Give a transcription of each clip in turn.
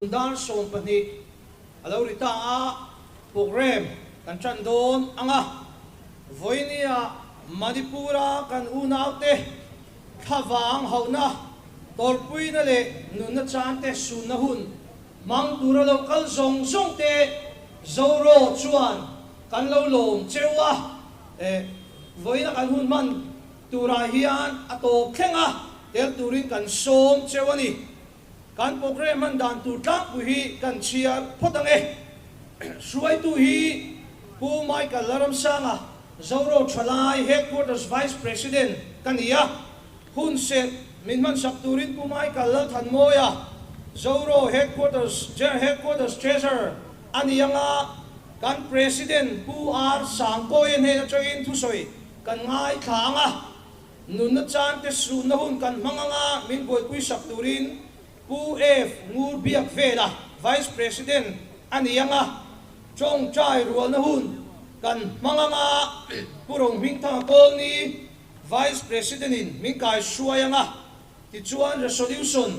Dar sawm pahnih a lo ri ta a, programme kan tan dawn ang a. Vawinia Manipura kan unaute thlavang hauhna, tawlpuina leh nunna chante sunna hun hmang tura lo kal zawng zawngte Zoraw chuan kan lo lawm cheu a, vawiina kan hun hman turah hian a tawp thleng a, tel turin kan sawm cheu a ni. Kan programme an dan tur tlangpui hi kan chhiar phawt ang e. Hruaitu hi Pu Michael Laramsanga, Zoraw Thalai Headquarters Vice President ka ni a, hun serh min hmansak turin Pu Michael Lalthanmawia, Zoraw Headquarters General Headquarters Treasurer a ni ang a, kan President Pu R Sangkawia hnena tawin thusawi kan ngaithla ang a, Nunna chante suhna hun kan hmang anga min buaipui sak turin Pu F. Ngur biak vela Vice President a ni anga Chawng Chai rualna hun kan hmang anga Pu Rohming Thanga Colony Vice President in min kai hruai anga tichuan Resolution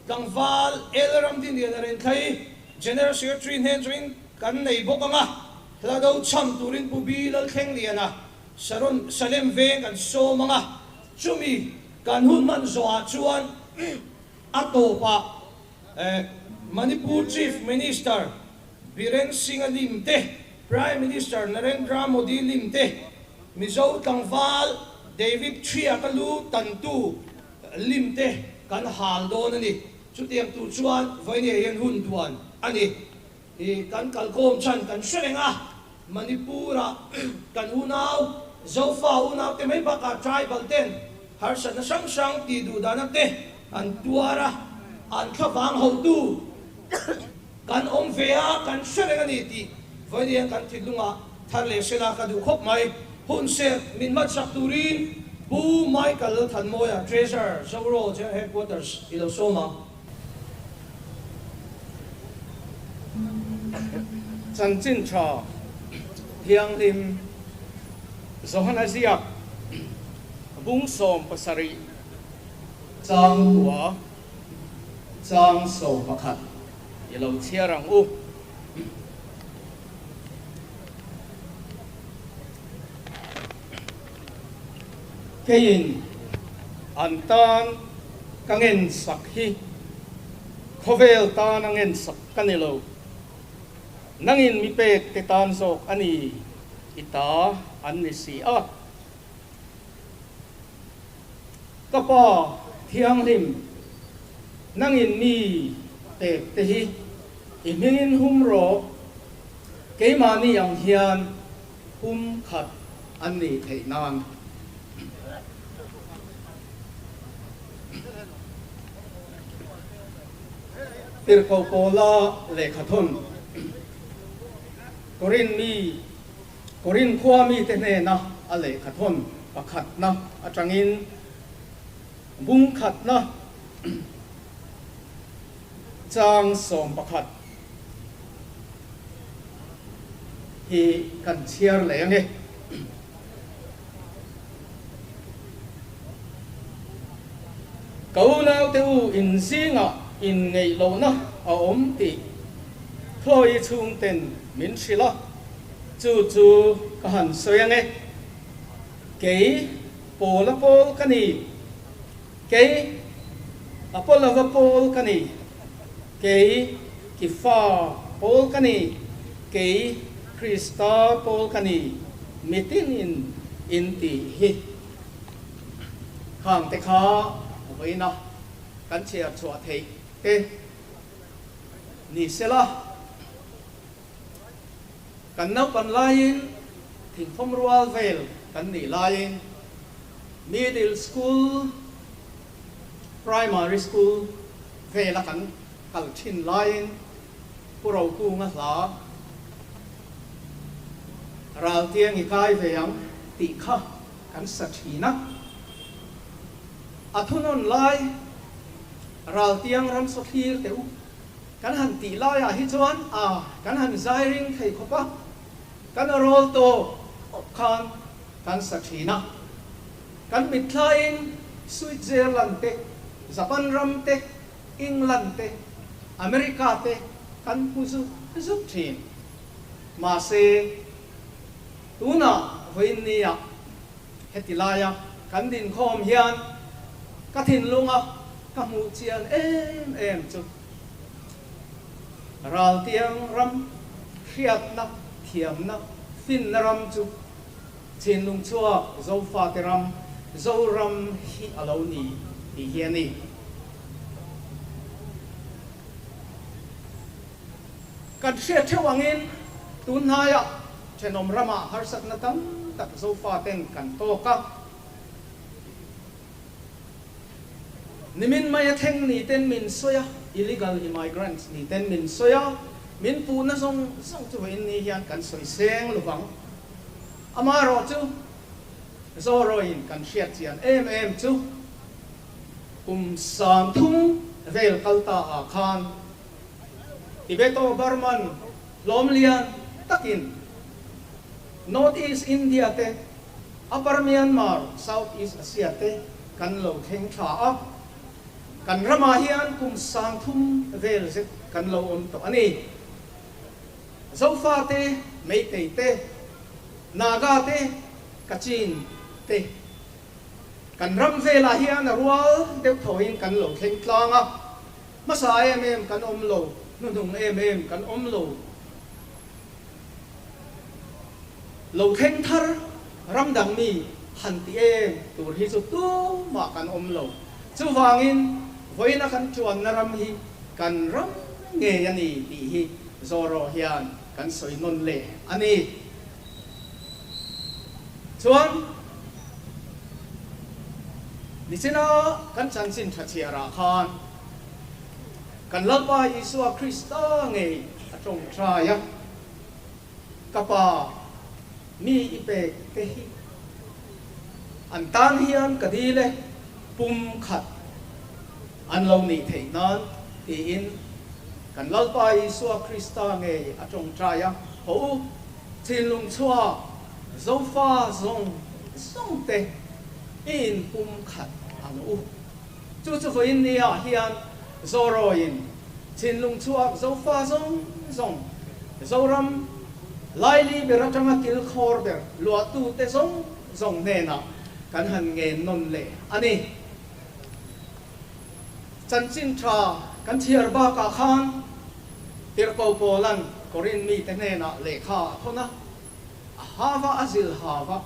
tlangval El Ramdinian a renthlai General Secretary hnen chungin kan nei bawk anga Hlado chham turin Pu B. Lalthleng Liana Sharon Salem veng kan sawm anga chumi kan hun hman zawhah chuan a tawpah Manipur Chief Minister Biren Singha lim te, Prime Minister Narendra Modi lim te, Mizo tlangval David Chhia ka lu tantu lim te kan hal dawn a ni. Chutiang tur chuan vawinia hian hun duan a ni. Hi kan kalkawm chhan kan hre reng a, Manipura kan unau, Zofa unaute mai bakah tribal ten harsatna hrang hrang tih duhdana te an tuar a, an thlavang hotu kan awm ve a, kan hre reng a ni tih vawinia kan thitlungah thar leh hrela ka duh khawp mai. Hunserh min hmatsak turin Pu Michael Thanmawia, Treasurer, Zoraw Jail Headquarters i lo sawm ang. Chanchin tha thianghlim Johana ziak bung sawm pasarih chang tua chang sawm pakhat i lo chhiar ang u. keiin an tan ka ngen sak hi khawvel tana ngen sak ka ni lo, nangin mi pek te tan zawk a ni i ta an ni si a. Ka pa thianghlim, nangin mi pek te hi i hmingin hum rawh, keimahni ang hian Hum khat an nei theih nan Tirhkoh Pawla lehkha thawn Corinth mi Corinth khua mi te hnena a lehkha thawn pakhatna atangin Hum khatna chang sawm pakhat hi kan chhiar leh ang e. Ko naute u in zingah inngeihlohna a awm tih thawi chhungten min hrilh a, chu chu ka han sawi ang e. Kei pawla pawl ka ni, kei a pawlava pawl ka ni. Kei ki fa pawl ka ni, kei Krista pawl ka ni mitin in in tih hi khangte kha vawiin a kan chhiar chhuah theih te ni se la, kan naupan laiin thingthawm rual vel kan nih laiin middle school, Primary School vela kan kal thin laiin Pu Rokunga hla Raltiang i kai ve ang tih kha kan sa thin a. A thunawn lai Raltiang ram saw thlir teh u kan han tih laiah hi chuan a kan han zairing thei khawp a, kan rawl tawh khawp khan kan sa thin a. Kan mitthlaiin Switzerland te, Japan ram te, England te, America te kan hmu zuk zuk thin. Mahse, tunah vawiinni ah heti laia kan dinkhawm hian ka thinlunga ka hmuh chian em em chu Raltiang ram hriatna, thiamna, finna ram chu. Chinlung chhuak Zofate ram, Zoram hi a lo ni tih hi a ni. Kan hria theuh angin tun hnaiah thenawm ramah harsatna tam tak Zofaten kan tawk a. Nimin mai a thleng ni ten min sawi a, illegal immigrants ni ten min sawi a, min puhna zawng zawng chu vawiin ni hian kan sawi seng lovang. Amaherawh chu Zorawiin kan hriatchian em em chu kum san thum vel kal ta ah khan Tibeto-Burman hlawm lian takin North East India te Upper Myanmar, South East Asia te kan lo thleng tha a, kan ramah hian kum san thum vel zet kan lo awm tawh a ni. Zofa te, Meitei te, Naga te, Kachin te, kan ram velah hian a rual deuh tho in kan lo thleng tlang a, hmasa em em kan awm lo, hnuhnung em em kan awm lo, lo thleng thar Ram dang mi han ti em tur hi chu tumah kan awm lo. Chuvangin vawiina kan ṭuanna ram hi kan ram ngei a ni tih hi zawraw hian kan sawi nawn leh a ni. Chuan nichina kan chanchin ṭha chhiarah khan kan Lalpa Isua Krista ngei a ṭawng ṭai a. Ka pa, mi i pek te hi an tan hian ka dil e, pum khat an lo nih theih nan, tiin kan Lalpa Isua Krista ngei a tawngtai a. Hawh u, thinlung chhuak Zofa zawng zawngte i in pum khat ang u. Chu chu vawiin ni ah hian Zorawi in thinlung chhuak Zofa zawng zawng, Zoram, Laili ber atanga kilkhawr ber luahtu te zawng zawng hnenah kan han ngen nawn leh a ni. Chanchin tha kan chhiar bakah khan tirhpo pawlan Korin mite hnenah lehkha a khawn a, a hau a, a zil hau a.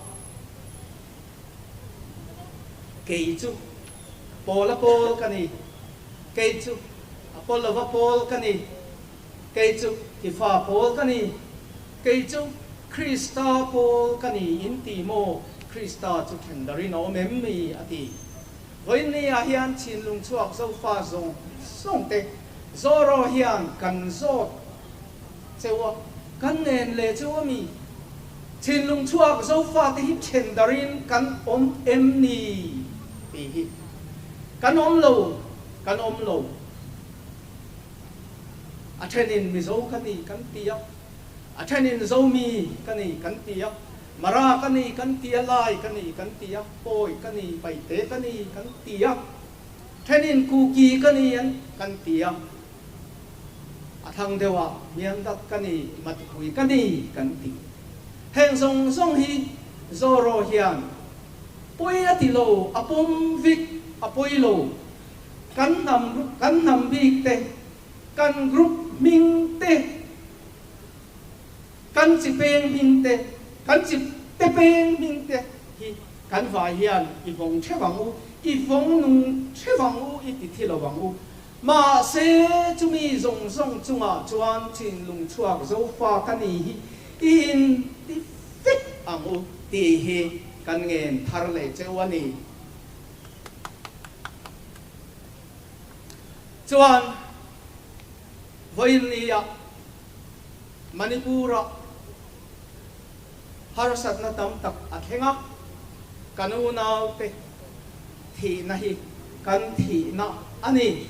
Kei chu pawl a pawl ka ni, kei chu a pawl lo va pawl ka ni, kei chu i fa pawl ka ni, kei chu Krista pawl ka ni in ti maw, Krista chu then dar in a awm em ni? a ti. Vawiin ni ah hian thinlung chhuak Zofa zawng zawng te zawraw hian kan zawt. Cheuha kan nen leh chu a mi thinlung chhuak Zofa te hi then darh in kan awm em ni? Tih hi kan awm lo, kan awm lo. A then in Mizo ka ni kan ti a, a then in Zomi ka ni kan ti a, Mara ka ni kan ti a, Lai ka ni kan ti a, Pawi ka ni, Paite ka ni kan ti a, then in Kuki ka ni an kan ti a. A thlang deuha hniam tak ka ni, matpui ka ni kan ti. Heng zawng zawng hi Zoraw hian pawi a ti lo, a pawm vik a pawi lo. Kan hnam kan hnam bik te, kan group hming te, kan chi peng hming te, kan chi te peng hming te hi kan vai hian i vawng thevang u, i vawng nung thevang u, i ti thi lovang u. Mahse, chumi zawng zawng chungah chuan thinlung chhuak Zofa ka ni hi i in ti fek ang u tih hi kan ngen thar leh cheu a ni. Chuan Vawinia Manipura. Harsatna tam tak a thleng a, kan unaute thihna hi kan thihna a ni.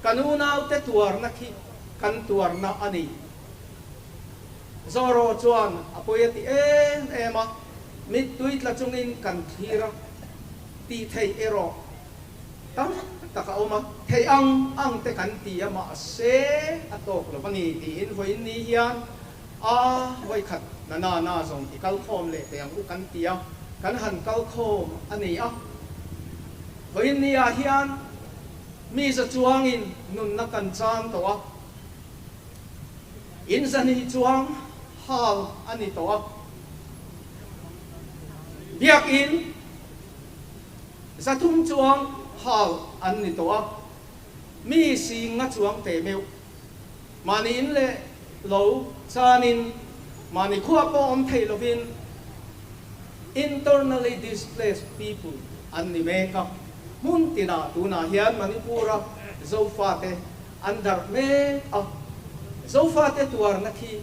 Kan unaute tuarna khi kan tuarna a ni. Zorro chuan a pawi a ti em em a, mittui tla chungin kan thlir a, tih theih erawh tam tak a awm a. Theih ang ang te kan ti a, mahse a tawk lo a ni, tiin vawiin ni hian A, vawikhat nana na zawng i kal khawm leh teh ang u kan ti a, kan han kal khawm a ni a. Vawiin ni ah hian mi za chuang in nunna kan chang tawh a, in za ni chuang hal a ni tawh a. Biak in za thum chuang hal an ni tawh a, mi si nga chuang teh meuh. mahni in leh lo chan in mahni khua pawh awm theih lo in internally displaced people an ni mek a, hmun tin ah tun ah hian Manipur a Zofa te an darh mek a, Zofa te tuar na khi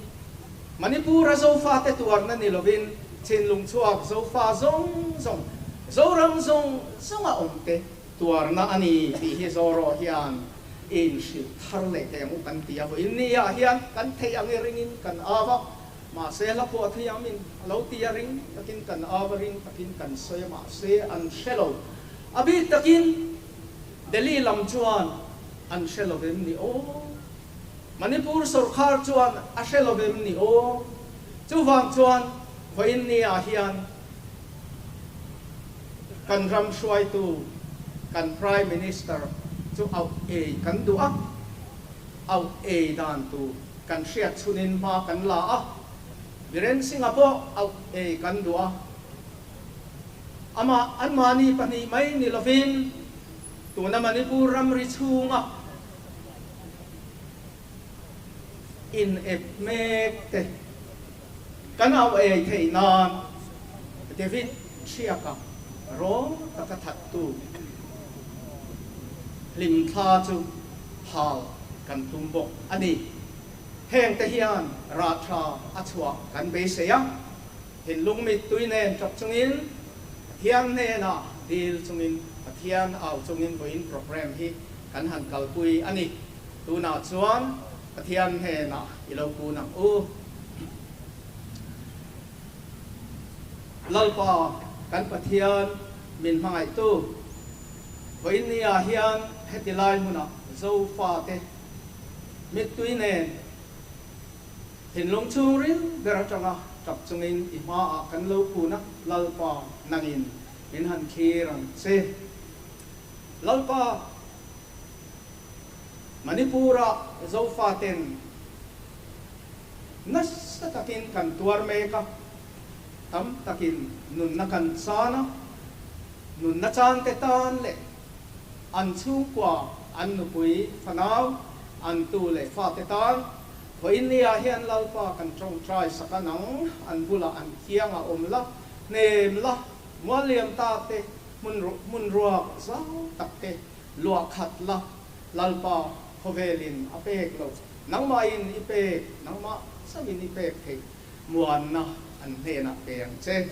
Manipur a Zofa te tuar na ni lo in thinlung chhuak Zofa zawng zawng, Zoram zawng zawng a awm te, Tuarna a ni tih hi Zorro hian in hrilh thar leh thei ang u kan ti a, vawiin ni ah hian kan theih ang i ring in kan au a, mahse hla pawh a thuiam in a lo ti a ring takin kan au a ring takin kan sawi a mahse an hre lo a bik takin Delhi lam chuan an hre lo em ni aw, Manipur sawrkhar chuan a hre lo em ni aw, chuvang chuan vawiin ni ah hian. kan ram hruaitu kan Prime Minister chu auh ei kan duh a, auh ei dan tu kan hriat chhunin hma kan la a, Biren Singha pawh auh ei kan duh a, amah anmahni pahnih mai ni lovin tuna Manipur ram ri chhunga inep mek te, Kan auh a ei theih nan David ṭhiaka rawng taka thattu hlim thla chu hal kan tum bawk a ni. Heng te hian rah ṭha a chhuah kan beisei a, thinlung mittui nen ṭawk chungin Pathian hnenah dil chungin Pathian au chungin vawiin programme hi kan han kalpui a ni. Tunah chuan Pathian hnenah i lo pun ang u. Lalpa kan Pathian, min hmangaihtu, vawiin ni ah hian heti lai hmun ah Zofa te mittui nen thinlung chhung ril ber atang a tap chung in i hma ah kan lo pun a, Lalpa nang in min han thlir ang che. Lalpa. Manipura Zofa ten nasa takin kan tuar mek a, tam takin nunna kan chan a, nunna chante tan leh an chhungkua an nupui, fanau, an tu leh fate tan Haw India hian Lalpa kan tawngtai sak a nang, an bulah an thiang a awm la, hnem la, mualliam ta te, hmun hmun ruak zau tak te Luah khat la, Lalpa khawvel in a pek lo. Nangmah in i pek, nangmah sang in i pek theih muanna an hnen ah pe ang che.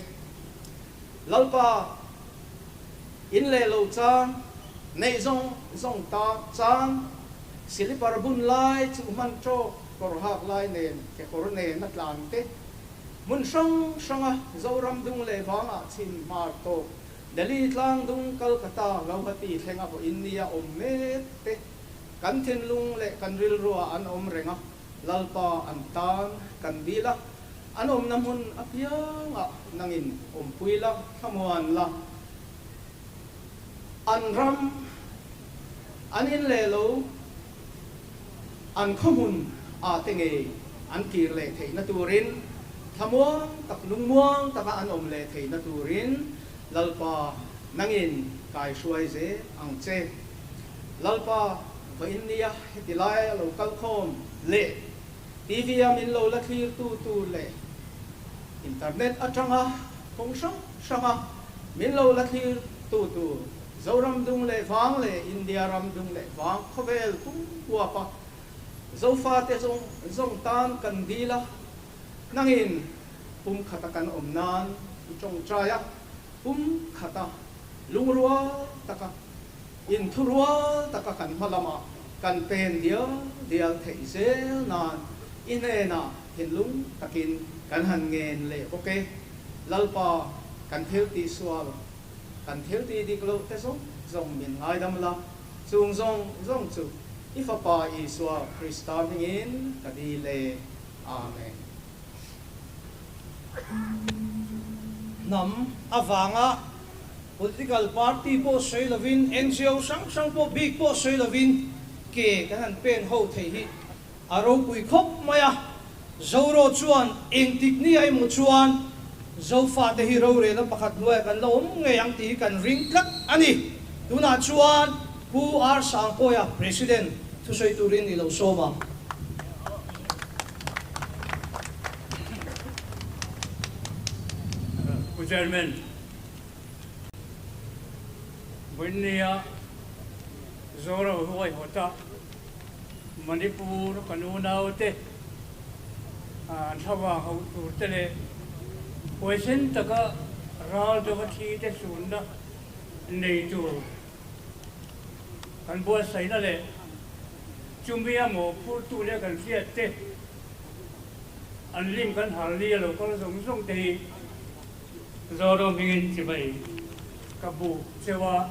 Lalpa in leh lo chang, neih zawng zawng ta chang, silipar bun lai chu hman tawk, kawr hak lai nen, kekawr nen a tlan te, hmun hrang hrang a zoram dung leh vang ah chhin hmar tawk, Delhi tlang dung Calcutta Gauhati thlenga pawh India awm met te kan thinlung leh kan rilruah an awm reng a, Lalpa an tan kan dil a, an awmna hmun apiangah nangin awmpui la, thlamuan la. An ram, an in leh lo. an khawhmun ah te ngei an kir leh theihna turin thlamuang tak lungmuang taka an awm leh theihna turin Lalpa nangin kai hruai ze ang che. Lalpa va in nia heti lai a lo kal khawm leh TV a min lo la thlir tu tu leh internet atanga khawng hrang hranga min lo la thlir tu tu Zoram dung leh vang leh India ram dung leh vang khawvel tum huap a Zofa te zawng zawng tan kan dil a, hnangin pumkhata kan awm nan i tawng trai a, pumkhata lung rual taka, inthu rual taka kan hma lamah kan pen dial dial theih zel nan i hnenah thinlung takin kan han ngen leh bawk e, Lalpa kan thil tihsual. kan thil ti dik loh te zawng zawng min ngaidam la, chung zawng zawng chu i Fapa Isua Krista hmingin ka dil e. Amen. Hnam avanga Political Party pawh sawi lovin, NGO hrang hrang pawh bik pawh sawi lovin ke kan han pen ho thei hi A ropui khawp mai a, Zoraw chuan engtik nia emaw chuan Zofate hi rorela pakhat hnuaia kan la awm ngei ang tih hi kan ring tlat a ni. Tunah chuan Pu R Sangkawia President thusawi tur in ni lo sawm a. Pu Chairman, Bunnia, Zoraw huaihawta. Manipur ka nu naute an thlava ho tur te leh huaisen taka ral dova thi te sunna nei tur kan buatsaihna leh chumi a mawhphurtu leh kan hriat te an lim kan harh lia lo kal zawng zawng te hi Zorawng hmingin chimai ka buh cheu a.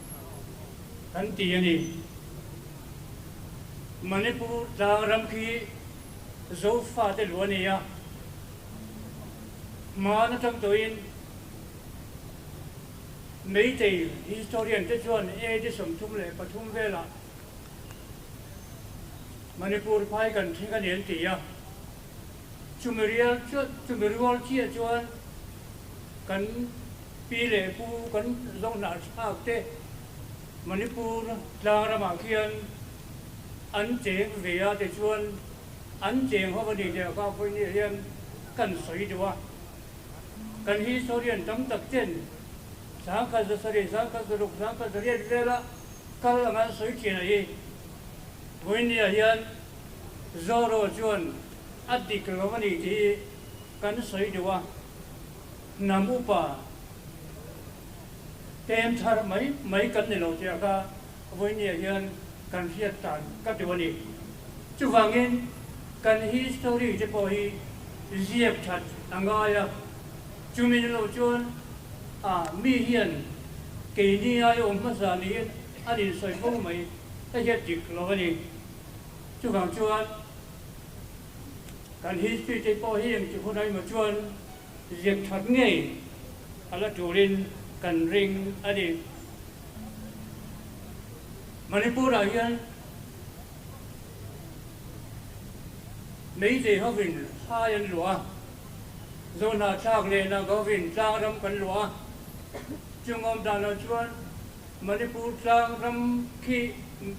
kan ti a ni. Manipur tlang ram khi Zofa te luh a ni a, hmaan aṭang tawhin Meitei historian te chuan AD sawmthum leh pathum velah Manipur phai kan thleng a ni an ti a. Chumi rial chuan, chumi rual chiah chuan kan pi leh pu kan zawng hnah thlak te Manipur tlang ramah khian an cheng ve a ti chuan an cheng ho a ni tih a kha pawhin ni ah hian kan sawi duh a. Kan historian tam tak ten Sangkhat Zasarih, Sangkhat Zaruk, Sangkhat Zariat vel a kal ang an sawi thin a hi. Vawiin ni ah hian. Zorro chuan a dik lo a ni tih hi kan sawi duh a, hnam upa pen thar mai mai kan ni lo tia kha Vawiniah hian kan hriat tan ka duh a ni. Chuvangin kan history te pawh hi ziak that a ngai a, chumi ni lo chuan a mi hian keini aiawm hmasa niin an insawi fo mai a hiat dik lo a ni. Chuvang chuan kan history te pawh hi engti hun aima chuan ziak that ngei a la turin kan ring a ni. Manipur-ah hian Meitei hovin hai an luah a, Zawnha thlak lehna govin tlangram kan luah a, chungawm danah chuan Manipur tlang ram khi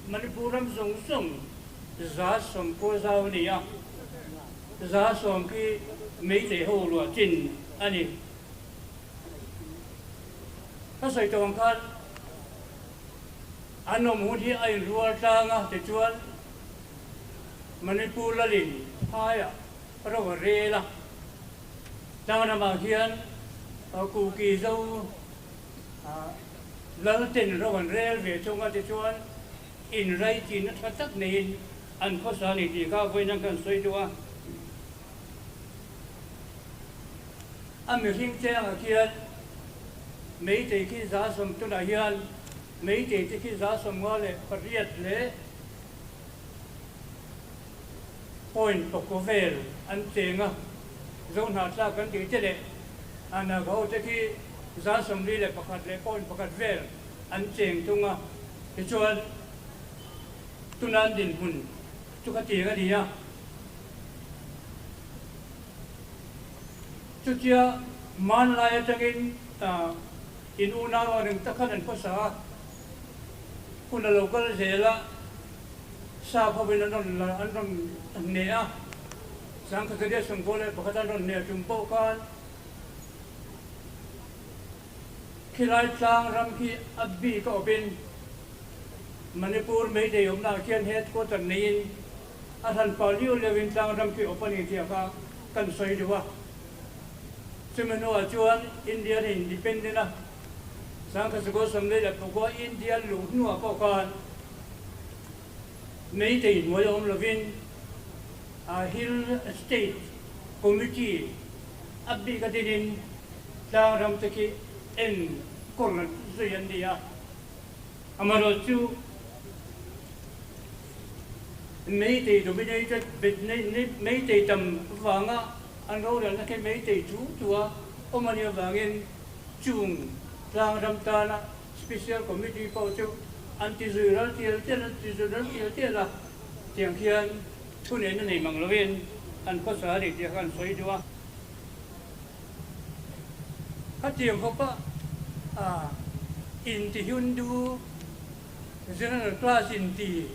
Manipur ram zawng zawng za sawmkua zau a ni a, za sawm khi Meitei ho ruah chin a ni. Hrasawi tawng khan an awm hun hi a inrual tlang a tichuan Manipur lalin phaiah ro a rel a, tlang ramah hian Kuki zo, Lalten ro an rel ve chung ate chuan inrei chinna tha tak neiin an khawsa a ni tih kha vawiin an kan sawi duh a. A mihring chengah khian Meitei khi za sawm tunah hian Meitei te khi za sawmnga leh pariat leh. Point pakua vel an cheng a, Zohnah tlak kan tih te leh Anag ho te khi za sawmli leh pakhat leh point pakhat vel an cheng thung a, tichuan tunan dinhmun chu kha tiang a ni a. Chutia hmanlai atangin in una rua reng ta khan an hmasa a. hun a lo kal zel a, sa pho in an rawn la an rawn hne a, Sangkhatharia sungkaw leh pakhat an rawn hne a tum pawh khan khilai tlang ram khi a bik a awp in Manipur Meitei awmna ah khian headquarter nei in a hlan pah liu liau in tlang ram khi a awp a ni tih kha kan sawi duh a, chumi hnu ah chuan India-na independent a Sangkhatsa Goswami leh Dr. Phukua India luh hnuah pawh khan meitei hnuai awm lovin aa Hill State Committee a bik a dinin tlangram te khi en kawr rat zui an ni a. Amaherawh chu meitei dominated meitei tam vanga an rorelna khi meitei thu thu a awm a nih avangin, Chung tlang ram tana Special Committee pawh chu an ti zui ral tial tial an ti zui ral tial tial a, tiang khian thu nen na nei mang lovin an khawsa a ni tih kha kan sawi duh a. Khatiang fapa ah Intihundu General Class inti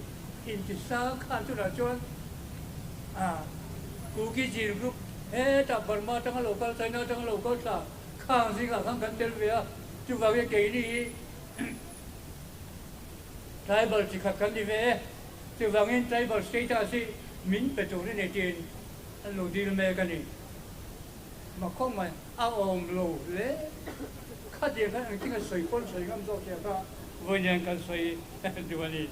inti sa khan tunah chuan Kuki Jin Group hetah Burma atanga lo kal China atanga lo kal thlak. khang zingah khan kan tel ve a, chuvang hi keini hi tribal chi khat kan ni ve e, chuvangin tribal status hi min pe tur a ni tiin an lo dil mek a ni. Makhawmai a awm lo hle khatin khan ang tinga sawi pawn sawi ngam zawk chiah kha vawiin kan sawi duh a ni.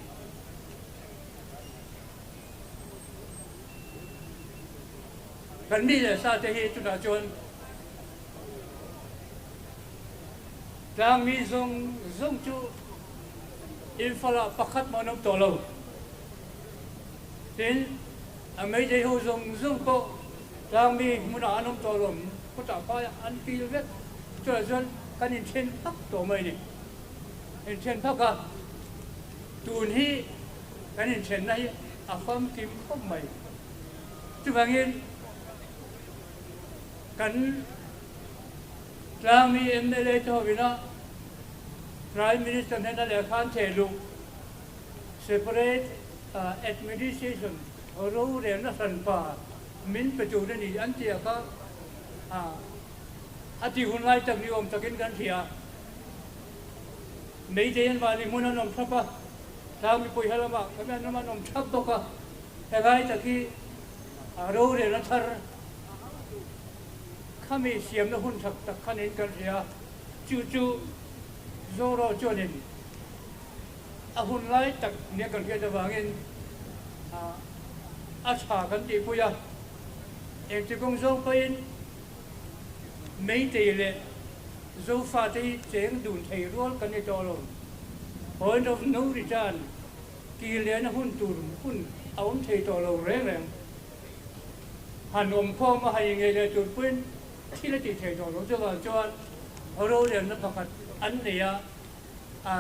Kan mi leh sa te hi chutah chuan. Tlang mi zung zung chu infalah pakhat hmawh an awm tawh lo. Tin, a Mayday ho zung zung pawh tlang mi hmunah an awm tawh lo. Khawtah paia an kil vek. Chutah chuan kan inthen phak tawh mai ni. Inthen phak a, tun hi kan inthenna hi a famkim khawp mai. Chuvangin. Kan Tlangmi mla te ho in a Prime Minister hnena lehkha an chei luh, Separate Administration rorelna hranpa min pe tur a ni an ti a kha a ti hun ngai tak ni awm takin kan hria a. Meidei an mahni hmun an awm thlap a, Tlangmi pawiha lamah kan awm thlap bawk a, helai tak hi A rorelna thar kha mi siamna hun chak tak khan in kan hria. Chu chu Zorro chuanin a hun lai tak nia kan hriat avangin a tha kan tihpui a, engti kawng zawng pahin Meitei leh Zofate hi cheng dun thei rual kan ni tawh alawm. Point of no return. Tih lehna hun tur hun a awm thei tawh lo reng reng. Han awm khawm a, han inneih leh tur pawhin thil a tih thei tawh lo chuvang chuan roremna pakhat an nei a, a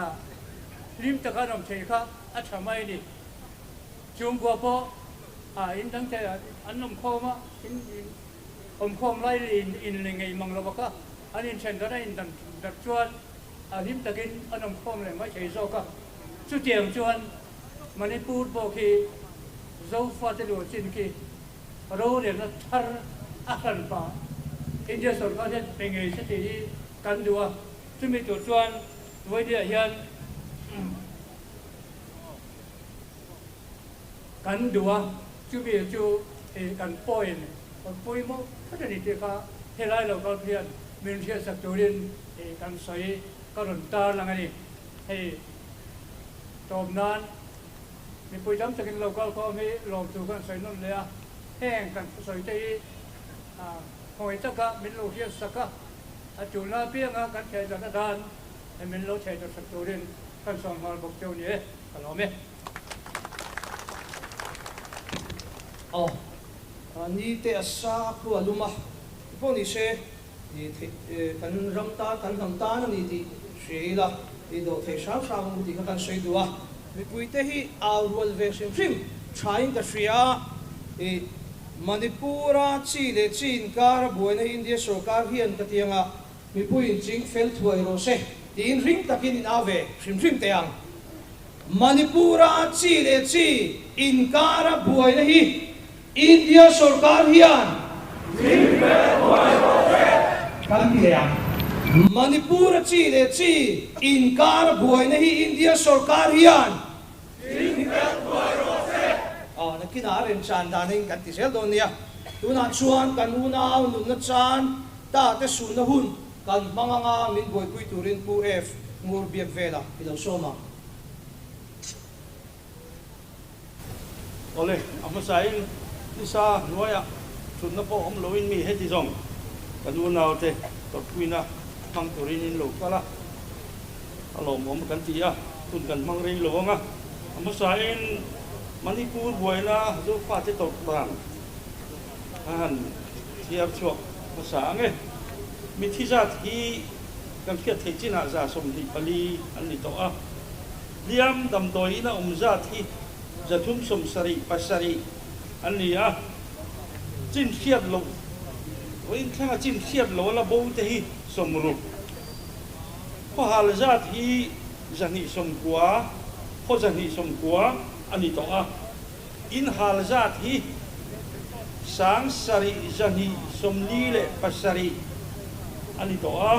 hlim taka an awm theih kha a tha mai a ni. Chhungbua pawh a in dang thei a, an awm khawm a, in awm khawm lai leh in inle ngeih mang lo bawk a, an inthen dan a, a in dan dat chuan. a hlim takin an awm khawm leh mai thei zawk a, chutiang chuan Manipur pawh khi Zofate lua chin khi rorelna thar a hlan pah India sawrkar hian pe ngei se tih hi kan duh a, chumi tur chuan Vaidya hian. kan duh a, chumi chu ih kan pawhin kan pawimawh phawt a ni tih kha helai lo kal phian min hriatsak turin ih kan sawi ka rawn tar lang a ni. Hei tawp nan mipui tam takin lo kal khawm hi lawmtu khan sawi nawn leh a, heng kan thusawiite hi ah hawi taka min lo hriatsak a, a tuna apianga kan thehchawlh a dan min lo thehchawlh sak turin kan sawn nghal bawk teu ni e ka lawm e. Aww. Ni te a sa a khua lum a, ti pawh ni se, ni theih kan ram tan, kan hnam tan a ni tih hria ila, ni dawh theih hrang hrang awm tih kha kan sawi duh a. Mipui te hi au rual ve hrim hrim tha in ka hria a, i Manipur a chi leh chi inkar a buaina hi India sorkar hian ka ti anga Mipuiin ching fel thuai rawh se tiin hring takin in au ve hrim hrim teh ang. Manipura chi leh chi inkara buaina hi India sorkar hian ching fel thuai rawh se kan ti leh ang. Manipura chi leh chi inkara buaina hi India sorkar hian Tling fel buai rawh fek. Aw, nakinah a rem chan dan in kan ti zel dawn nia. Tunah chuan kan unau nunna chan tate sunna hun kan hmang anga min buaipui turin Pu F. ngur biak vela i lo sawm a. Awle, a hmasain i sa hnuaia thutna pawh awm loin mi heti zawng kan unaute tawrhpuina hmang turin in lo kal a. A lawmawm kan ti a, hun kan hmang rei lo ang a. A hmasain Manipur buaina Zofate tawrh tan a han thiar chhuak hmasa ang e. Mithi zat hi kan hriat theih chinah za sawmhnih pali an ni tawh a. Hliam damdawiin a awm zat hi za thum sawm sarih, pasarih an ni a. Chin hriat loh, Vawinthlenga chin hriat loh a la bo te hi sawmruk Khawhal zat hi zahnihsawm kua, khaw zahnihsawm kua a ni tawh a, inhal zat hi sang sarih zahnihsawm ni leh pasarih a ni tawh a,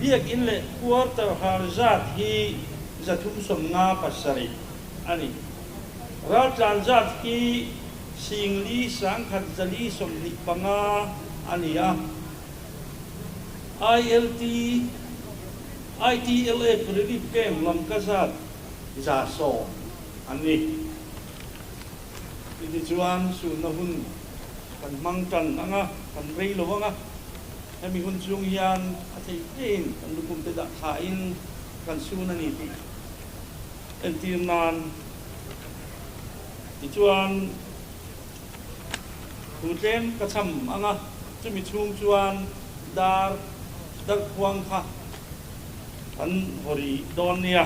biakin leh quarter hal zat hi zathum sawm nga pasarih a ni. Raltlan zat hi singli sangkhat zali sawmhnih panga a ni a. ILT, ITLF rilip keng lamka zat za sawm an ni. Chutih chuan sunna hun kan hmang tan ang a, kan rei lo ang a. Hemi hun chhung hian a theih ngeiin kan lukum te dah thlain kan sun a ni tih entir nan tichuan, Thu tlem ka cham ang a, chumi chhung chuan dar darh khuang kha han haw rih dawn nia.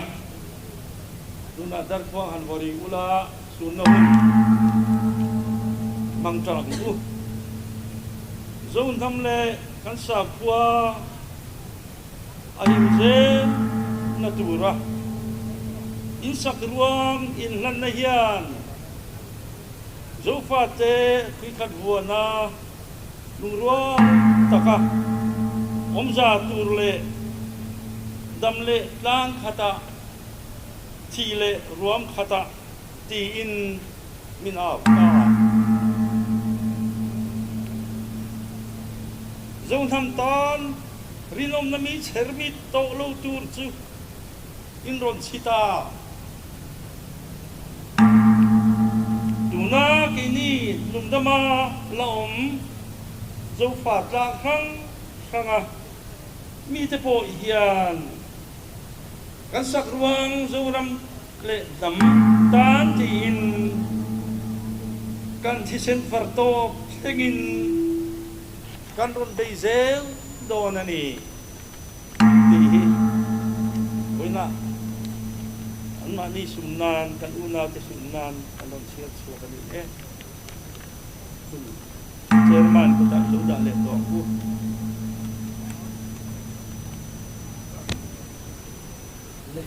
Tunah darh khuang han haw rih ula sunno hun hmang tang ang u. Zohnam leh kan sakhua a inzen na tura insak ruang inhlanna hian. Zofate tuikhat vuana lungrual taka awmza tur leh dam leh tlang khata, thi leh ruam khata tiin min au ta a. Zohnam tan rinawmna mi chher mi tawh lo tur chu In rawn chhit a. Tuna keini nungdam a la awm Zofa tlak hrang hrang a mite pawh hian kan sak ruang Zoram leh dam tan tiin kan thisen far tawp thlengin kan rawn bei zel dawn a ni. Tih hi Vawiina anmahni sum nan kan unaute hlum nan kan rawn chhiar chhuak a nih e. Hun Chairman kawtah i lo dah leh tawh ang u. Ni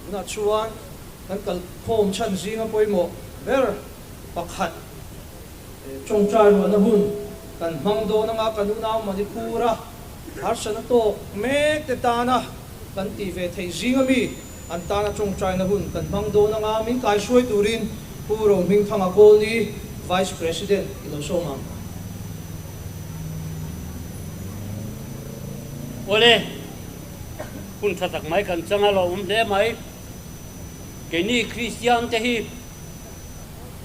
tunah chuan kan kal khawm chhan zinga pawimawh ber pakhat Chawngchai ruahna hun kan hmang dawn anga kan unau Manipur a Harsatna tawk mek te tana kan tih ve thei zing ami an tana tawngtaina hun kan hmang dawn anga min kai hruai turin Pu Rohming Thanga Colony Vice President i lo sawm ang. Awle, hun tha tak mai kan chang a lo awm hle mai. Keini Kristian te hi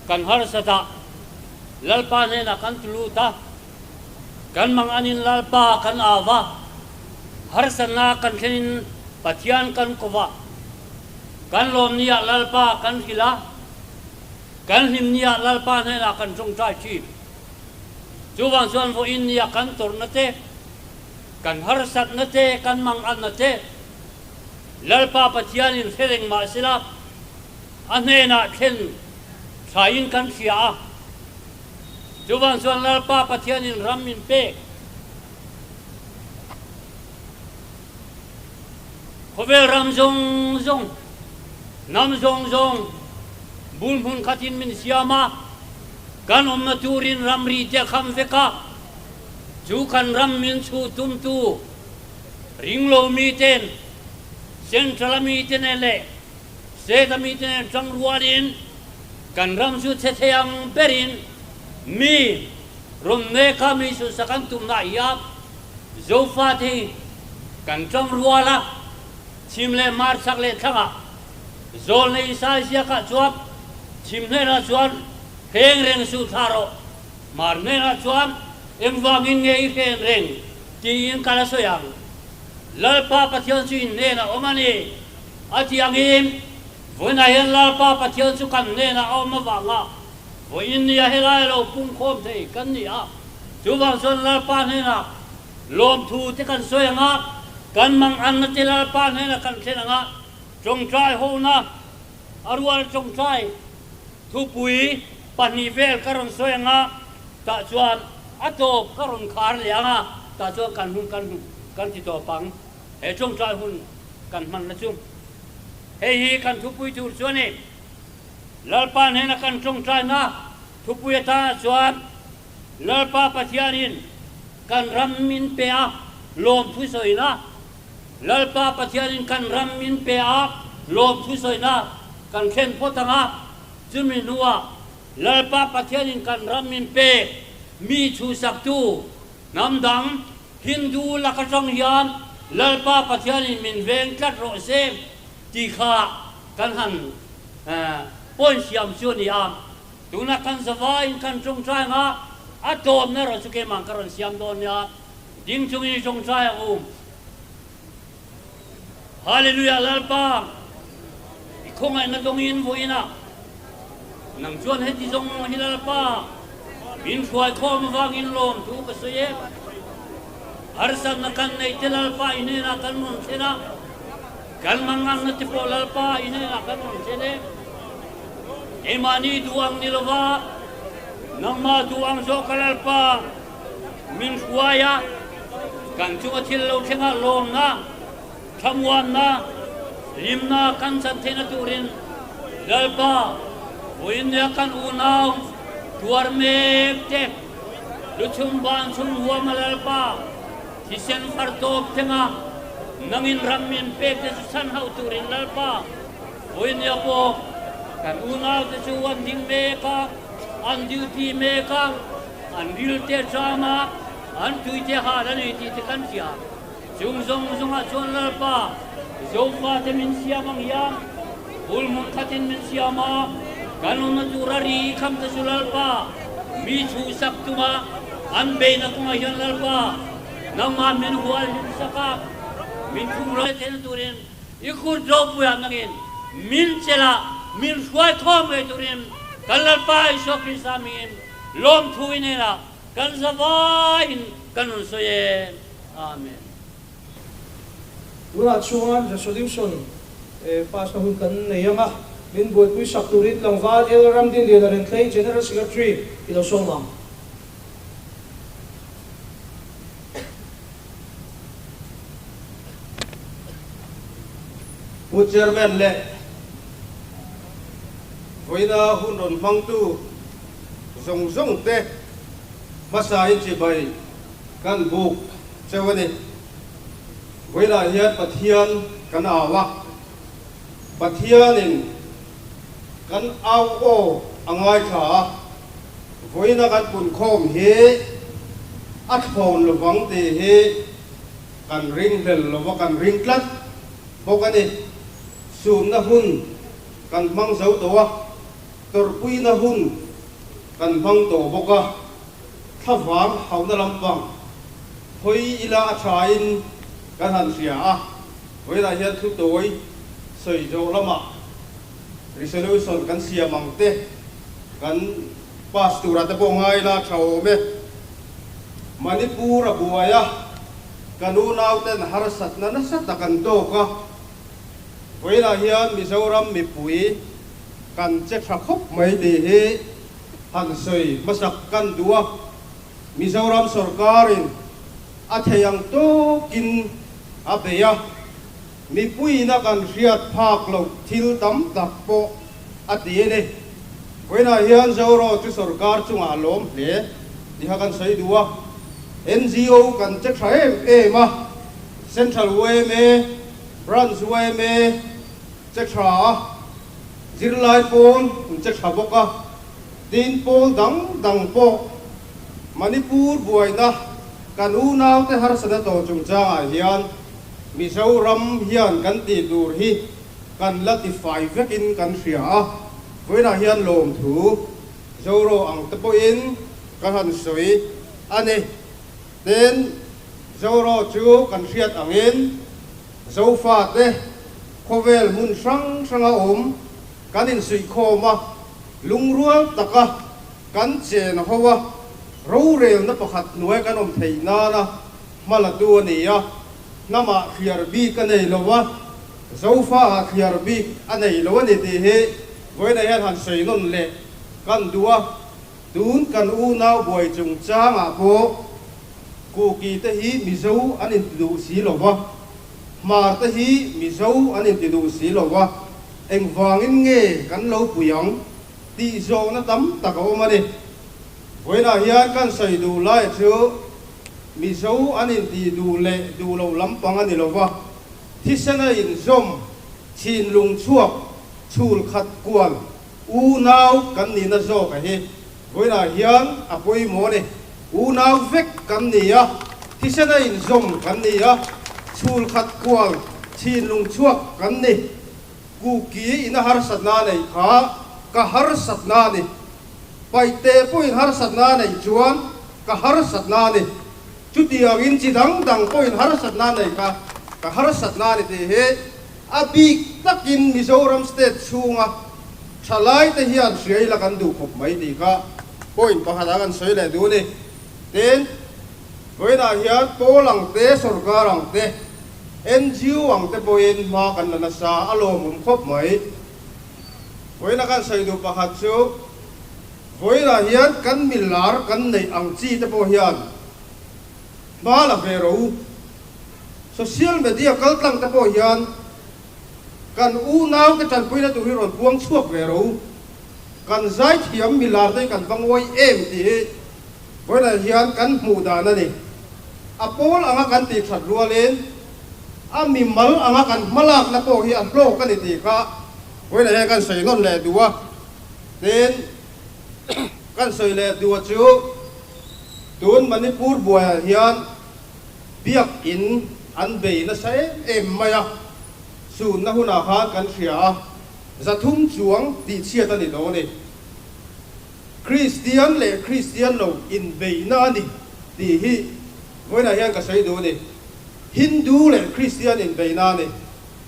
kan harsatah Lalpa hnenah kan tu lut a. Kan mang anin Lalpa kan au va, harsatna kan thlenin Pathian kan ko va. Kan lawm ni ah Lalpa kan hrilh a, kan hlim ni ah Lalpa hnenah kan ṭawngṭai ṭhin. Chuvang chuan vawiin ni a kan tawrhna te, kan harsatna te, kan mang anna te Lalpa Pathianin hre reng mah sela a hnenah thlen thlaiin kan hria a. Chuvang chuan Lalpa Pathianin ram min pek. Khawvel ram zawng zawng, hnam zawng zawng bul hmun khatin min siam a, kan awmna turin ramri te kham veka chu kan ram min chhuh tumtu ringlo miten, Central a mite nen leh, Seta mite nen chang rual in kan ram chu che theiang ber in mi rawn mek kha mi sunsa kan tum na hi a Zofa te hi kan chang rual a chim leh mar chak leh thlang ah zawl na in sai ziak ah chuan chim hnen ah chuan hreng reng suh thla rawh mar hnen ah chuan engvang in nge i hlen reng ti in ka la sawi ang Lalpa Pathian chu in hnen ah awm a ni A tiang hi, Vawiin a hian Lalpa Pathian chu kan hnenah a awm avanga vawiin nia helai a lo pungkhawm thei kan ni a, chuvang chuan Lalpa hnenah lawmthu te kan sawi ang a, kan mang anna te Lalpa hnenah kan thlen ang a, tawngtai hona a rual tawngtai thupui pahnih vel ka rawn sawi ang a, tah chuan a tawp ka rawn khar leh ang a, tah chuan kan hun kan hmu kan ti tawp ang. He tlawmtlai hun kan hman la chu, hei hi kan thupui tur chu a ni. Lalpa hnena kan tlawmtlaina thupui atana chuan Lalpa Pathianin kan ram min pe a lawmthu sawina, Lalpa Pathianin kan ram min pe a lawmthu sawina kan thlen phawt ang a, chumi hnuah Lalpa Pathianin kan ram min pe mi chhusaktu Hnam dang, Hindu lak atang hian Lalpa Pathian in min veng tlat rawh se tih kha kan han point siam chu a ni a. Tunah kan zavaiin kan tawngtai ang a, a tlawmna erawh chu keimah ka rawn siam dawn nia, ding chungin zawngtai ang u. Hallelujah Lalpa, i khawngaihna tawngin vawi ina, nang chuan heti zawng hi Lalpa, min hruai khawm avangin lawm thu ka sawi e. Harsatna kan neite Lalpa i hnenah kan rawn thlen a, kan mannganna te pawh Lalpa i hnenah kan rawn thlen e. Keimahni duh ang ni lova, nangmah duh ang zawk a Lalpa. Min hruai a, kan chu a thil lo thlengah lawmna, thlamuanna, limna kan chan theihna turin Lalpa vawiin nia kan unau tuar mek te, luchhum vancung huama Lalpa thisen far tawp thlenga nangin ram in pek te chu chhan hauh turin Lalpa vawiin nia pawh kan unau te chu an ding mek a, an duty mek a. An rilte changa an tuite hal a nei tih te kan hria. Chung zawng zawngah chuan Lalpa Jofate min siam ang hian bul hmun khatin min siam a, kan awmna tura ri kham te chu Lalpa mi thu sak tunga an beihna kawngah hian Lalpa nangmah min hual hlim sak a, min khum rei theihna turin i kut ropui ah nangin min chel a min hruai thawm ve turin kan Lalpa Isua Krista mingin Lawmthu i nena kan zavai in kan rawn sawi e. Amen. Tunah chuan resolution pass na hun kan nei ang a, min buaipui sak turin tlangval Elder Ramdinlian a rentlei General Secretary i lo sawm ang. Pu Chairman leh vawiina hun rawn hmangtu. zawng zawng te hmasa in chibai kan buk cheu a ni. Vawilah hian Pathian kan au a, Pathian in kan au aw a ngaithla a, vawina kan pun khawm hi a thlawn lo vang tih hi kan ring hlel lo va, kan ring tlat bawk a ni. Sumna hun kan hmang zo tawh a. Tawrhpuina hun kan hmang tawh bawk a, thla vang hauna lampang hawi ila a thain kan han hria a, vawilah hian thutawi sawi zawh lamah resolution kan siam ang te kan pass tura te pawh ngai la tha awm e. Manipur a buai a, kan unauten harsatna nasa tak an tawk a, vawilah hian Mizoram mipui, kan che tha khawp mai tih hi han sawi hmasak kan duh a, Mizoram sorkarin a thei ang tawkin a bei a, mipuina kan hriat phak loh thil tam tak pawh a ti e ni. Vawiinah hian Zoraw chu sorkar chungah a lawm hle tih kha kan sawi duh a, NGO kan che tha em em a, Central UMA, Branch UMA, Che tha a, zirlai pawn an che tha bawk a, din pawl dang dang pawh. Manipur buaina kan unaute harsatna tawh chungchangah hian Mizoram hian kan tih tur hi kan la ti fai vekin kan hria a, vawiinah hian lawmthu zorawh ang te pawhin ka han sawi a ni. Pen Zoraw chu kan hriat angin Zofa te khawvel hmun hrang hranga awm kan insuihkhawm a, lungrual taka kan chen a ho a, rorelna pakhat hnuai kan awm thei nana hma la tu a ni a, hnamah thliar bik a nei lo a, Zofa ah thliar bik a nei lo a ni tih hi vawiinah hian han sawi nawn leh kan duh a. Tun kan unau buai chungchangah pawh Kuki te hi Mizo an intiduh si lo va, Hmar te hi Mizo an intiduh si lo va, engvangin nge kan lo pui ang tih zawhna tam tak a awm a ni. Vawiinah hian kan sawi duh lai chu Mizo an intih duh leh duh loh lampang a ni lo va, thisena inzawm, thinlung chhuak, chhul khat kual, Unau kan nihna zawkah hi vawilah hian a pawimawh a ni. Unau vek kan ni a, thisena inzawm kan ni a, chhul khat kual thinlung chhuak kan ni. Kuki ina harsatna nei kha ka harsatna a ni. Paihte pawhin harsatna nei chuan ka harsatna a ni. Chutiangin chi dang dang pawhin harsatna nei kha ka harsatna a ni tih hi. A bik takin Mizoram state chhunga thalai te hian hriai la kan duh khawp mai tih kha point pakhat a kan sawi leh duh a ni. Tin, vawiinah hian Pawl ang te, sorkar ang te, NGO ang te pawhin hma kan la nasa a lawmawm khawp mai. Vawiin a kan sawi duh pakhat chu, vawiinah hian kan milar kan neih ang chi te pawh hian hmal a ve ro. Social media kaltlang te pawh hian kan unau te tanpui na tur hi rawn puang chhuak ve ro. Kan zaithiam milar te hi kan va ngawi em tih hi vawilah hian kan hmuh dan a ni. A pawl anga kan tih that rualin a mimal anga kan hmalakna pawh hi a hlawk a ni tih kha vawilah hian kan sainawn leh duh a. Tin. Kan sawi leh duh chu tun Manipur buaiah hian biakinn an bei nasa em em mai a, sunna hunah khan kan hria a, zathum chuang tihchhiat a ni dawn a ni. Kristian leh Kristian lo inbeihna a ni tih hi vawiinah hian ka sawi duh a ni. Hindu leh Kristian inbeihna a ni.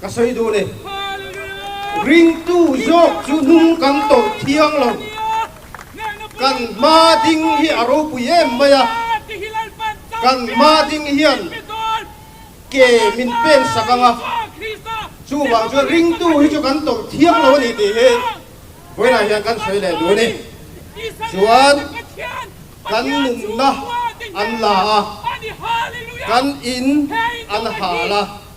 Ka sawi duh le ringtu zawk chu hnung kan tawrh thiang lo, kan hma ding hi a ropui em mai a, kan hma ding hian ke min pen sak ang a, chuvang chuan ringtu hi chu kan tawrh thiang lo a ni tih hi vawilah hian kan sawi leh duh a ni. Chuan kan nunna an la a, kan in an hal a.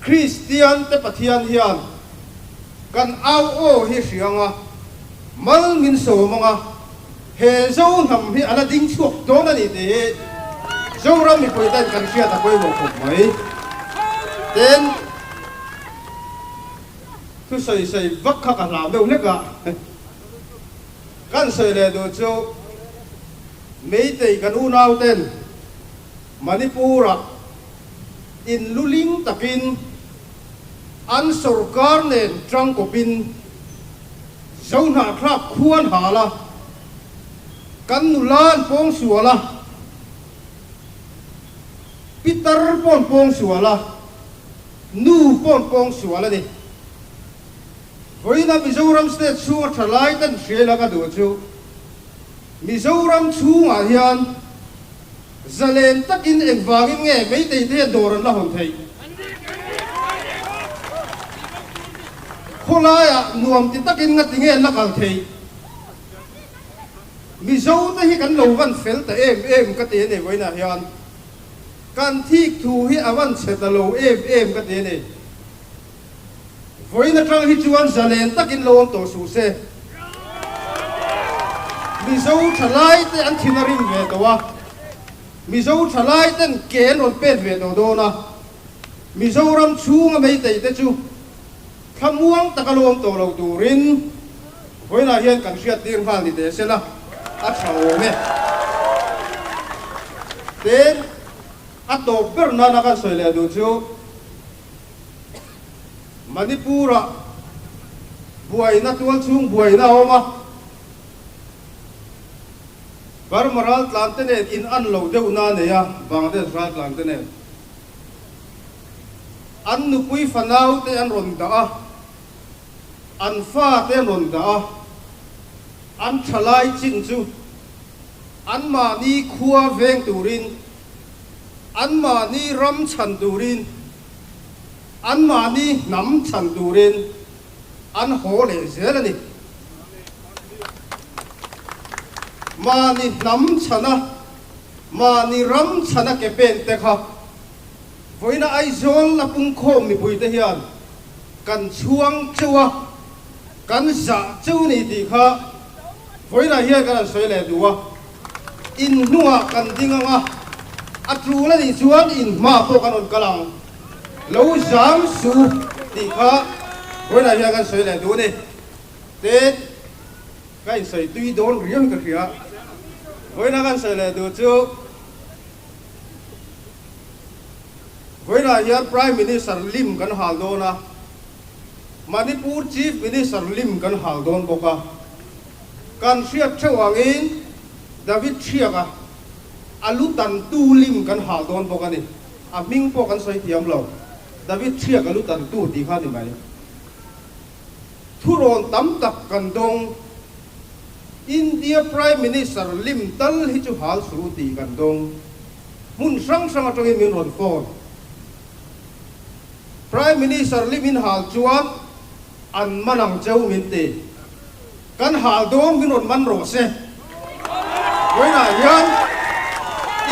Kristiante Pathian hian kan au aw hi hriang a, mal min sawm ang a, he zo hnam hi a la ding chhuak dawn a ni tih hi Zoram mipui ten kan hriat a pawimawh khawp mai. Tin, thusawi sawi vak kha ka hlau deuh hlek a, kan sawi leh duh chu Meitei kan unauten, Manipur-ah in lu ling takin an sorkar nen ṭangkawpin zohnahthlak khuan hal a, kan nula an pawng sual a, pitar pawh an pawng sual a, nu pawh an pawng sual a ni. Vawiinah Mizoram state chhunga ṭhalai ten hriailaka duh chu Mizoram chhungah hian, Zalen takin en vangin nge meitei te hian dawr an la hawn theih? Khawlaia nuam ti takin ngati nge an la kal theih? Mizo te hi kan lo van fel ta em em ka ti a ni vawiinah hian kan thik thu hi a van chhe ta lo em em ka ti a ni. Vawiin atang hi chuan zalen takin lo awm tawh suh se. Mizo thalaite an thin a rim ve tawh a, Mizo thalai ten ke an rawn pet ve tawh dawn a, Mizoram chhunga meitei te chu thlamuang taka lawm tawh lo turin vawilah hian kan hriattir nghal ni teh se la, a tha awm e. Tin, a tawp ber nana kan sawi leh duh chu. Manipura buaina tual chhung buaina a awm a, Burma raltlangte nen in an lo deuhna a nei a, Bangladesh raltlangte nen an nupui fanaute an rawn dah a, an fate an rawn dah a, an thalai chin chu anmahni khua veng turin Anmahni ram chhan turin, anmahni hnam chhan turin an haw leh zel a ni. Mahni hnam chhana, mahni ram chhana ke pen te kha vawiin Aizawl a pungkhawm mipuite hian kan chhuang cheu a, kan zah cheu a ni tih kha vawiin ah hian kan han sawi leh duh a. In hnungah kan ding ang a, a tlun a nih chuan in hma pawh kan rawn kal ang. Lo zam su tih kha huainah hian kan sawi leh dun e. Te ka insawi tui dawn riau ka hria. Huaina kan sawi leh duh chu huainah hian Prime Minister lim kan hal dawn a. Manipur Chief Minister Lim kan hal dawn bawk a, kan hriat theuh angin David Chhiak a, a lu tan tu Lim kan hal dawn bawk a ni. A hming pawh kan sawi thiam lo, David Chhiak a lu tan tu tih kha ni mai. Thurawn tam tak kan dawng, India Prime Minister Lim tal hi chu hal suh tih kan dawng, hmun hrang hrang atangin min rawn phone. Prime Minister Lee Min Hal chuan an man ang cheu min ti. Kan hal dawng min rawn man rawh se. Vawiinah hian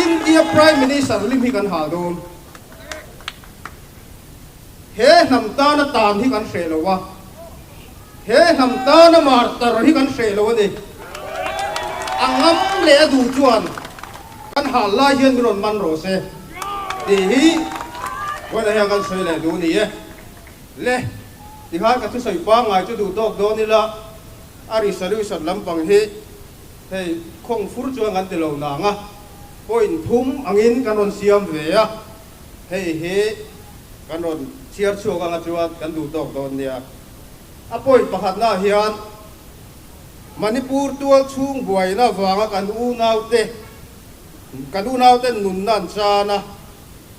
India Prime Minister Lim hi kan hal dawng. He hnam tana tan hi kan hreh lo a. He hnam tan a mar tar hi kan hreh lo a ni. A ngam leh a duh chuan kan hal lai hian min rawn man rawh se tih hi huaina hian kan sawi leh duh ni e. Le, tihai ka thusawi pangngai chu duh tawk dawn ila, a risariusat lampang hi hei khawng fur chuan kan ti lo nanga point thum angin kan rawn siam ve a, hei hi kan rawn chhiar chhuak anga chuan kan duh tawk dawn nia. A point pakhatnaah hian Manipur tual chhung buaina vanga kan unaute kan unaute nunna an chan a,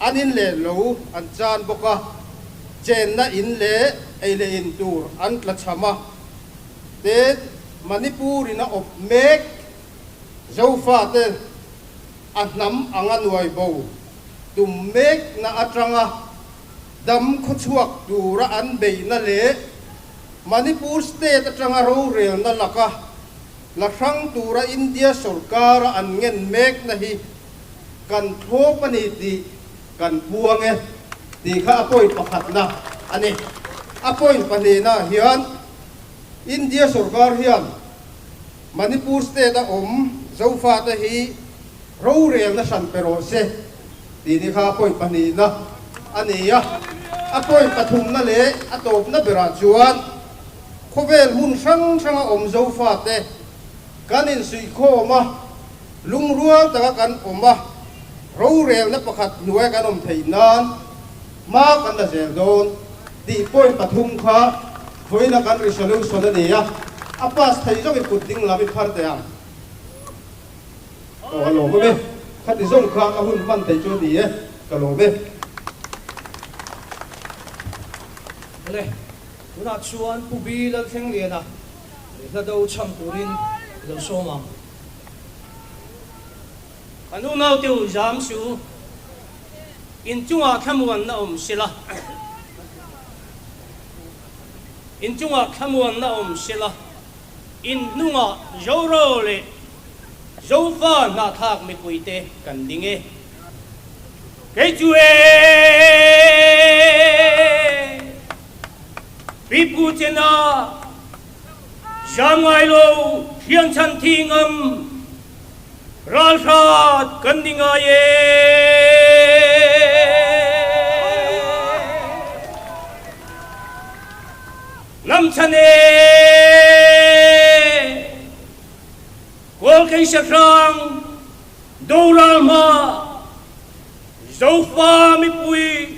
an in leh lo an chan bawk a, chenna in leh ei leh in tur an tla chham a, tin Manipurin a awp mek Zofa te a hnam anga nuaibo tum mekna atanga, dam khuachhuak tura an beihna leh Manipur State atanga rorelna laka la hrang tura India sorkara an ngen mekna hi kan thlawp a ni tih kan buang e tih kha a point pakhatna a ni. A point pahnihna ah hian India sorkar hian. Manipur state a awm Zofate hi rorelna hran pe rawh se tini kha a pawi pahnihna a ni a, a pawi pathumna leh a tawpna berah chuan khawvel hmun hrang hranga awm Zofate kan insuihkhawm a, lungrual taka kan awm a, rorelna pakhat hnuaia kan awm theih nan hma kan la zel dawn tih pawi pathum kha Khawina kan ri salo sawn a ni a, a pass thei zawk i kut ding lam i phar teh ang. Aw a lawm em e, khati zawng kha ka hun hman thei chu a ni e, ka lawm e. Awle, tunah chuan Pu Bi Lalthlengriana leh hla do chham turin i lo sawm ang. Kan u naute u Zam Siu in chungah thlamuanna awm sela. Inchungah thlamuanna awm sela, in hnungah Zoraw leh Zofa hnahthlak mipui te kan ding e. Kei chu e, Pipu chena Siam ngailo thianchhan thingam ralhrat kan ni ngai e. Hnam chhan e. Kawlkei Sahrang Doral hma Zofa Mipui.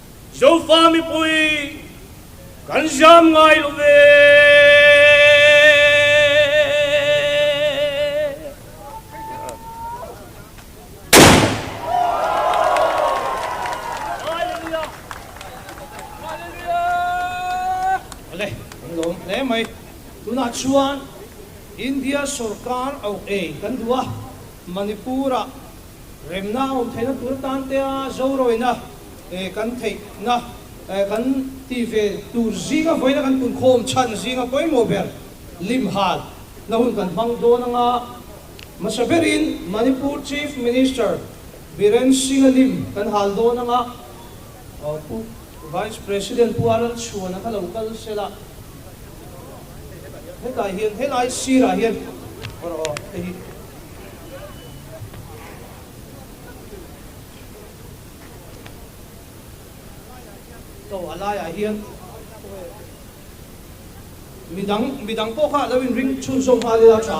Zofa mipui kan zam ngai lo ve. Vale kan lawm hle mai tunah chuan India sorkar auh ei kan duh a Manipur ah Remna a awm theihna tur tan tea zorawina kan theihna kan ti ve tur zinga vawiina kan punkhawm chhan zinga pawimawh ber limhal na hun kan hmang dawn anga hmasa berin Manipur Chief Minister Biren Singa lim kan hal dawn anga Pu Vice President Pu Aral Chhuan a kha lo kal sel a. Hetah hian helai sirah hian. Aw a laiah hian midang midang pawh kha lo inring chhun zawm nghal ila tha.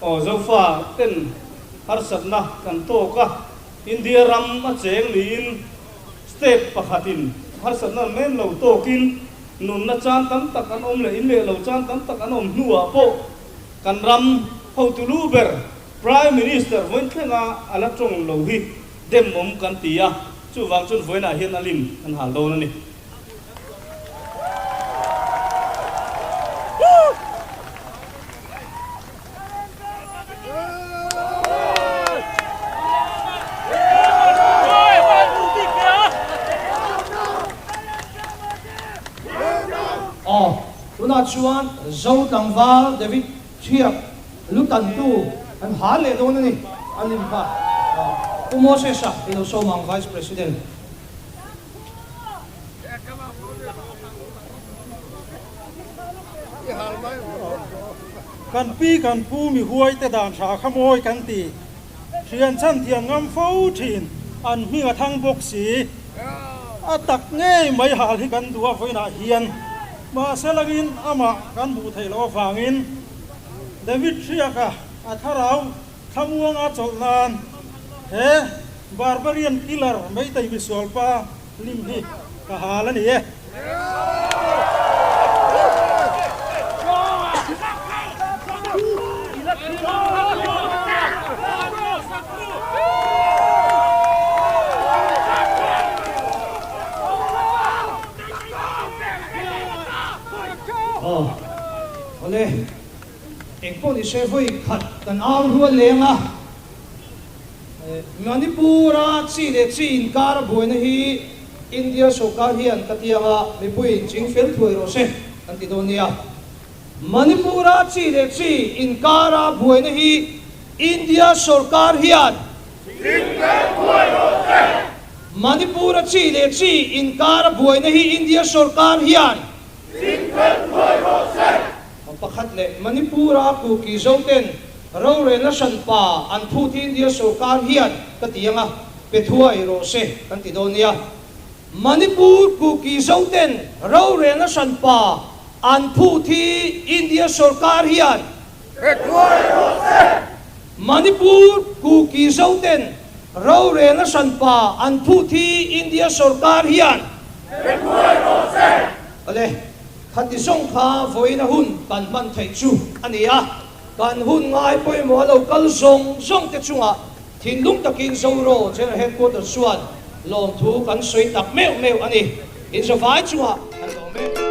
Aw Zofa, pen harsatna kan tawk a, India ram a cheng niin state pakhatin harsatna an nem lo tawkin nunna chan tam tak an awm leh inleh lo chan tam tak an awm hnuah pawh kan ram hotu lu ber Prime Minister Vawinthlenga a la tawng lo hi demawm kan ti a, chuvang chuan Vawiinah hian a lim kan hal dawn a ni. Aw, tunah chuan zo tlangval David Chhiak lu tantu kan hal leh dawn a ni, an inphah Pu Moses-a i lo sawm ang, Vice President. Kan pi kan pu mihuai te dan hra kha mawi kan ti. Hrianchhan thiam ngam fo thin an hming a thang bawk si. A tak ngei mai hal hi kan duh avawin ah hian mahse langin amah kan hmuh theih loh avangin David hriaka a thlarau Thlamuanga chawlh nan he barbarian killer meitei misualpa hlim hi ka hal a ni e. Aww. Awle. Eng pawh ni se hawi khat kan au rual leh ang a. Manipura chi leh chi inkar a buaina hi India sawrkar hian ka tiang a, mipuiin ching fel thuai rawh se kan ti dawn nia. Manipura chi leh chi inkar a buaina hi India sawrkar hian ching fel thuai rawh se. Manipura chi leh chi inkar a buaina hi India sawrkar hian ching fel thuai rawh se. Hma pakhat leh Manipura Kuki Zoten rorel a hran pa an phut hi India sorkar hian ka ti anga pe thuai rawh se kan ti dawn nia. Manipur Kuki Zoten rorel a hran pa an phut hi India sorkar hian pe thuai rawh se. Manipur Kuki Zoten rorel a hran pa an phut hi India sorkar hian pe thuai rawh se. Awle, khati zawng kha vawiina hun kan hman theih chu a ni a, kan hun ngai pawimawh a lo kal zawng zawng te chungah thinlung takin Zoraw General Headquarters chuan lawmthu kan sawi tak meuh meuh a ni. Inzawh vai chungah kan lawm em?